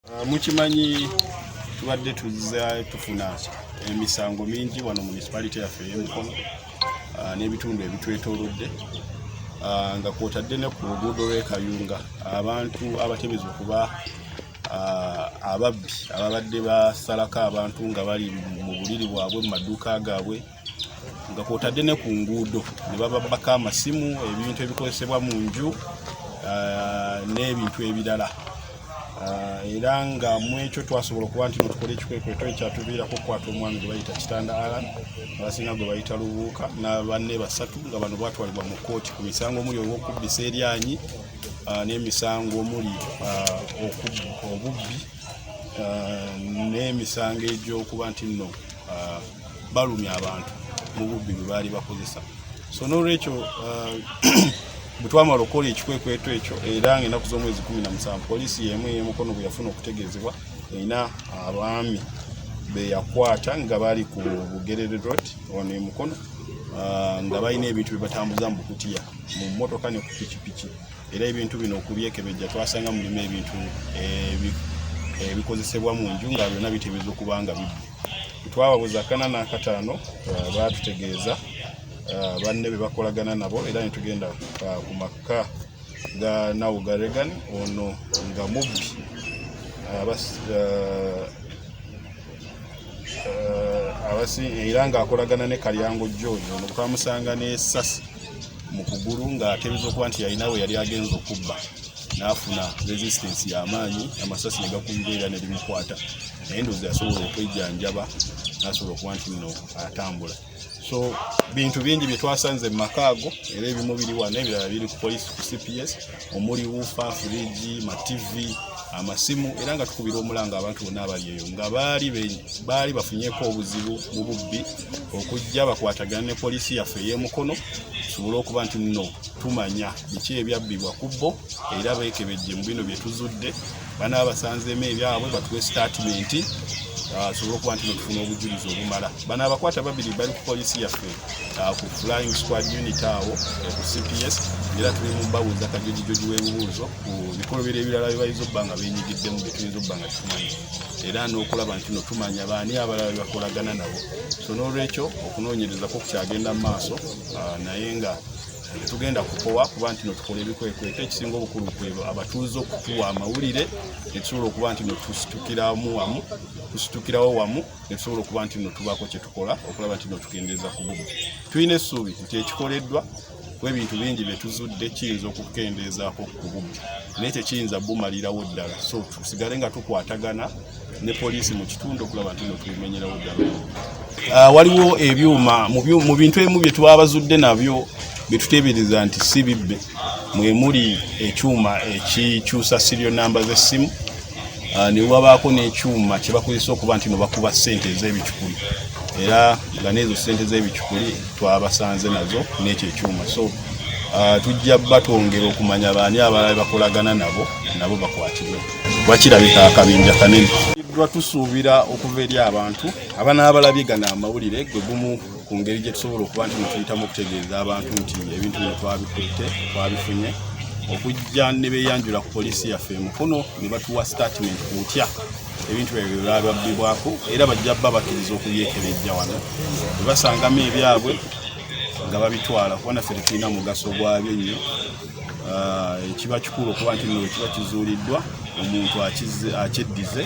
Ah, mukimanyi tubadde tuza tufuna emisango mingi wano municipality yaffe eyemukono ah, n'ebitundu ebitwetolodde ah, nga kwotadde ne ku luguudo lwekayunga abantu abatemeza okuba ababbi ababadde basalako abantu nga bali mu buliri bwabwe mu maduuka gaabwe nga kwotadde ne ku nguudo ne bababbako amasimu ebintu ebikozesebwa mu nju ah, n'ebintu ebirala ah, era nga mu ekyo twasobola okuba nti notukola ekikwekweto ekyatuviirako okukwata omwami gwe bayita kitanda alan abasinga gwe bayita lubuuka nabanne basatu nga bano batwalibwa mu kkooti ku misango omuli olwokubbisa eryanyi ah, n'emisango omuli obubbi n'emisango egy'okuba nti nno balumya abantu mu bubbi bwe baali bakozesa so n'olwekyo uh, bwe twamala okukola ekikwekweto ekyo era ng'enaku z'omwezi kumi na musanvu poliisi y'emu ey'emukono bwe yafuna okutegeezebwa erina abaami be yakwata nga bali ku bugerere road ono emukono uh, nga balina ebintu bye batambuza mu bukutiya mu mmotoka ne ku pikipiki era ebintu bino okubyekebejja twasanga mulimu ebintu eh, ebikozesebwa mu nju nga byonna biteebereza okuba nga bibbi twababuza kana n'akataano uh, baatutegeeza uh, banne be bakolagana nabo era ne tugenda uh, ku makka ga nawo ga regan ono nga mubbi abasi era ng'akolagana ne kalyango george ono twamusanga n'esasi mu kugulu ng'atebeeza okuba nti yalina we yali agenza okubba n'afuna resistance y'amaanyi amasasi ne gakumbira era ne limukwata naye ndowooza yasobola okwejjanjaba n'asobola okuba nti nno atambula so bintu bingi bye twasanze mu maka ago era ebimu biri wano ebirala biri ku poliisi ku cps omuli wufa firiji mativi amasimu era nga tukubira omulanga abantu bonna abali eyo nga baali bafunyeko obuzibu mu bubbi okujja bakwatagana ne poliisi yaffe ey'emukono tusobole okuba nti nno tumanya biki ebyabbibwa ku bo era beekebejje mu bino bye tuzudde bana basanzeemu ebyabwe batuwe sitaatimenti ah, asobole okuba nti netufuna obujulizi obumala bano abakwata babiri bali ku poliisi yaffe ah, ku flying squad unit awo eh, ku cps era tuli mu babuuza kajojijoji w'ebibuuzo ku bikolobero ebirala byebayinza okuba nga benyigiddemu byetuyinza okuba nga tumanyi era n'okulaba nti no tumanya baani abalala bebakolagana nabo so n'olwekyo okunoonyereza kwo kukyagenda mu maaso ah, naye nga tetugenda kukowa kuba nti no tukola ebikwekweto ekisinga obukulu kwebo abatuuze okutuwa amawulire netusobola okuba nti no tusitukiramu wamu tusitukirawo wamu netusobola okuba nti no tubaako kyetukola okulaba nti no tukendeeza ku bumu tulina essuubi nti ekikoleddwa webintu bingi byetuzudde kiyinza okukendeezaako ku bumu naye tekiyinza bumalirawo ddala so tusigale nga tukwatagana ne poliisi mu kitundu okulaba nti no tubimenyerawo ddala ah, waliwo ebyuma mu bintu ebimu bye twabazudde nabyo bye tuteebereza nti si bibbe mwe muli ekyuma ekikyusa sirio namba z'essimu ah, ne wabaako n'ekyuma kye bakozesa okuba nti no bakuba ssente ez'ebicupuli era nga n'ezo ssente z'ebicupuli twabasanze nazo n'ekyo ekyuma so ah, tujja batwongera okumanya baani abalala bakolagana nabo nabo bakwatibwe wakirabika akabinja kanene iddwa tusuubira okuva eri abantu abanaabalabye gana amawulire gwe gumu ku ngeri gye tusobola okuba nti netuyitamu okutegeeza abantu nti ebintu bino twabikutte twabifunye okujja ne beeyanjula ku poliisi yaffe emukono ne batuwa sitatimenti ku butya ebintu ebyo byababbibwako era bajja bba bakkiriza okubyekebejja wano bwe basangamu ebyabwe nga babitwala kubona ffe tetulina mugaso gwabyo nnyo ah, ekiba kikulu okuba nti nno ekiba kizuuliddwa omuntu akyeddize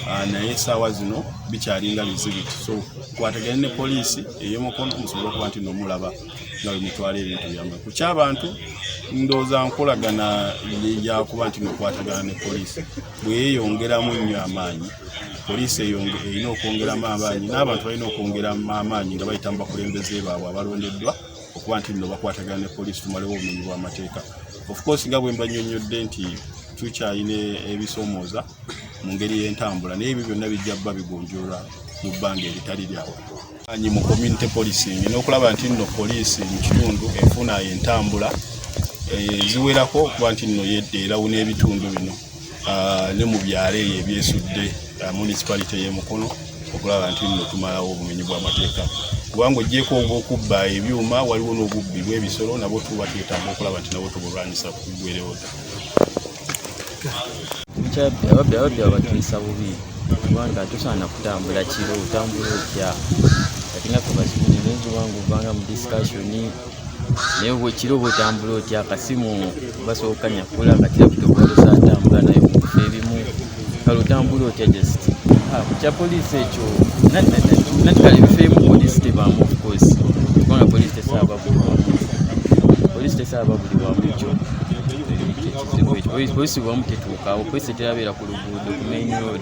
ah, naye esaawa zino bikyalinga bizibiti so kwatagane ne poliisi eyomukono musobole okuba nti nomulaba nga bemutwala ebintu byamwe ku kyabantu ndooza nkolagana yakuba nti nokwatagana ne poliisi bweyeyongeramu nnyo amaanyi poliisi erina okwongeramu amaanyi n'abantu balina okwongeramu amaanyi nga bayita mu bakulembeze baabwe abalondeddwa okuba nti nno bakwatagana ne poliisi tumalewo obumenyi bw'amateeka of course nga bwe mbanyonnyodde nti tukyalina ebisoomooza mu ngeri y'entambula naye ebyo byonna bijja bba bigonjoolwa mu bbanga eritali lyawa anyi mu community policing n'okulaba nti nno poliisi mu kitundu efuna entambula eh, eziwerako okuba nti nno yedda erawo n'ebitundu bino ah, ne mu byalo eyo ebyesudde ah, municipality ey'e Mukono okulaba nti nno tumalawo obumenyi bw'amateeka kubanga ogyeko obwokubba ebyuma waliwo n'obubbi bw'ebisolo nabwo tuba twetaaga okulaba nti nabwo tubulwanyisa kugwerewoda ababbi ababbi abatuyisa bubi kubanga tosaana kutambula kiro otambula otya atinga fe bazikunyenenzi wange ovanga mu discussion naye bwekiro bwetambula otya akasimu basooka nyakula kati laputopu atambula naye kukufa ebimu kale otambula otya just ah, kukya poliisi ekyo natikala ebifo emu poliisi tebaamu ofcourse kubanga poliisi tesaaba buli wamu poliisi tesaaba buli wamu ekyo polisi bwamu tetuukawo polisi terabeera ku luguudo ku main road